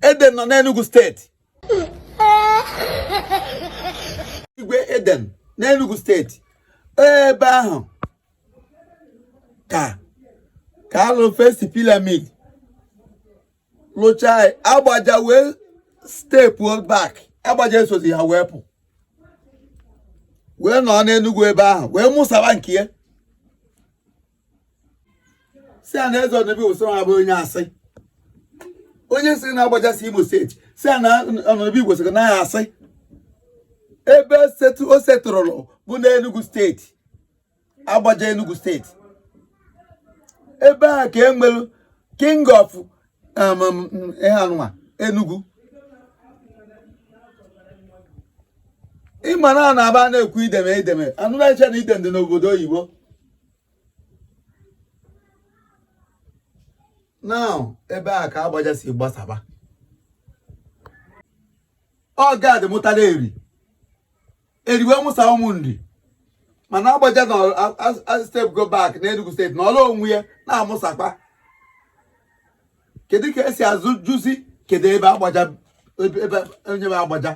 Eden nọ n'Enugu steeti igwe Eden n'Enugu steeti ebe ahụ ka ka alụrụ first pyramid lụchaa Agbaja wee step back Agbaja esozi ha wee pụ wee nọ n'Enugu ebe ahụ wee mụsaba nke ya sị ya na eze ọnọbi wụsịrị ha bụ onye asị onye sị na Agbaja si Imo steeti sị ya na ọnọbi gwesịrị na ya asị ebe o setụrụrụ bụ n'Enugu steeti Agbaja Enugu steeti ebe a ka e nwere king of um, um, ihe anụnwa Enugu ị ma na a na-aba na-ekwu Eden Eden a nọ na-eche na Eden dị n'obodo oyibo now ebe a ka Agbaja si gbasaba ọ Gad mụtara Eri Eri wee mụsa ụmụ Nri mana Agbaja na step go back na Enugu steeti nọlụ onwe ya na-amụsakwa kedu ka e si azụ jụzi kedu ebe Agbaja ebe onye bụ Agbaja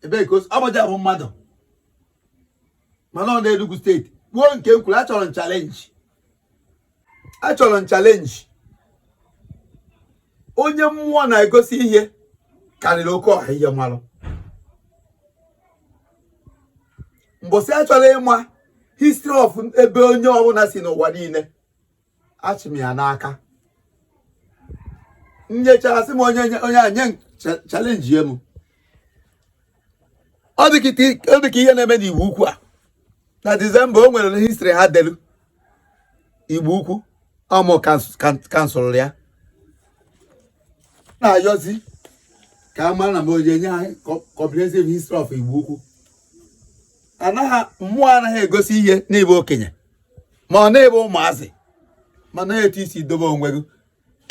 ebee ka Agbaja bụ mmadụ mana ọ n'Enugu steeti kwuo nke m kwuru achọrọ m challenge achọrọ m challenge onye mmụọ na-egosi ihe karịrị oke ọha ihe m malụ mbọsị a chọrọ ịma history of ebe onye ọbụla si n'ụwa niile achị m ya n'aka nyechara sị m onye onye a nye challenge ya m ọ dị ka ihe na-eme n'Igbo Ukwu a na December o nwere history ha delu Igbo Ukwu ọ mụ council ya na-ayọzi ka a mara na m onye nye anyị comprehensive history of Igbo Ukwu anaghị mmụọ anaghị egosi ihe n'ịbụ okenye ma ọ n'ịbụ ụmụazị mana etu i si dobe onwe gị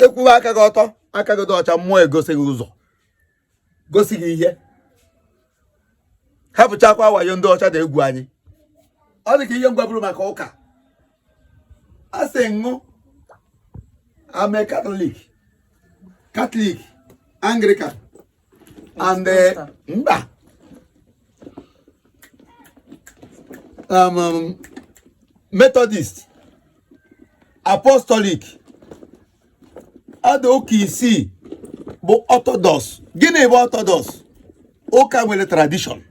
ị kwụwa aka gị ọtọ aka gị dị ọcha mmụọ egosi gị ụzọ gosi gị ihe hapụchakwa wayo ndị ọcha dị egwu anyị ọ dị ka ihe m gwaburu maka ụka a sị Roman Catholic Catholic Anglican and eh, mba um, um, Methodist Apostolic ada ụka isii bụ Orthodox gịnị bụ Orthodox ụka nwere tradition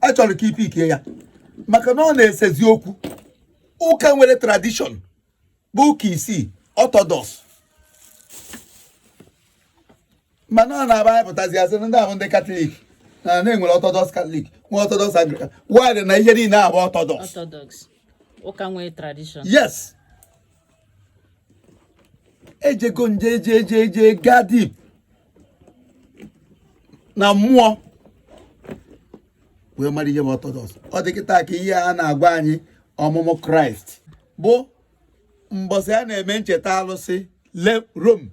achọrọ ka i pickie ya maka na ọ na-esezi okwu ụka nwere tradition bụ ụka isi orthodox mana ọ na-abụ anyị pụtazi a sị na ndị ahụ ndị katọlik na e nwere orthodox katọlik nwee orthodox anglikan while na ihe niile abụ orthodox orthodox ụka nwee tradition yes ejego m jee jee jee jee gaa deep na mmụọ wee mara ihe bụ orthodox ọ dị kịta ka ihe a na-agwa anyị ọmụmụ kraịst bụ mbọsị a na-eme ncheta alụsị rome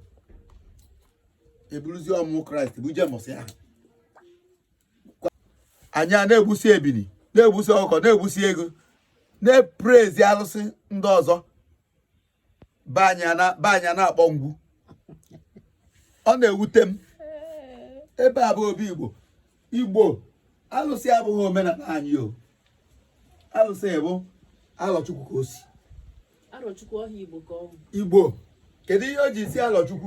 eburuzi ọmụmụ kraịst buje mbọsị ahụ anyị a na-egbusi ebini na-egbusi ọkụkọ na-egbusi eghu na-eprezi alụsị ndị ọzọ be anyị na-akpọ ngwu ọ na-ewute m ebe a bụ obi igbo igbo alụsị abụghị omenala anyị o alụsị bụ alọchukwu ka o si igbo kedu ihe o ji si alọchukwu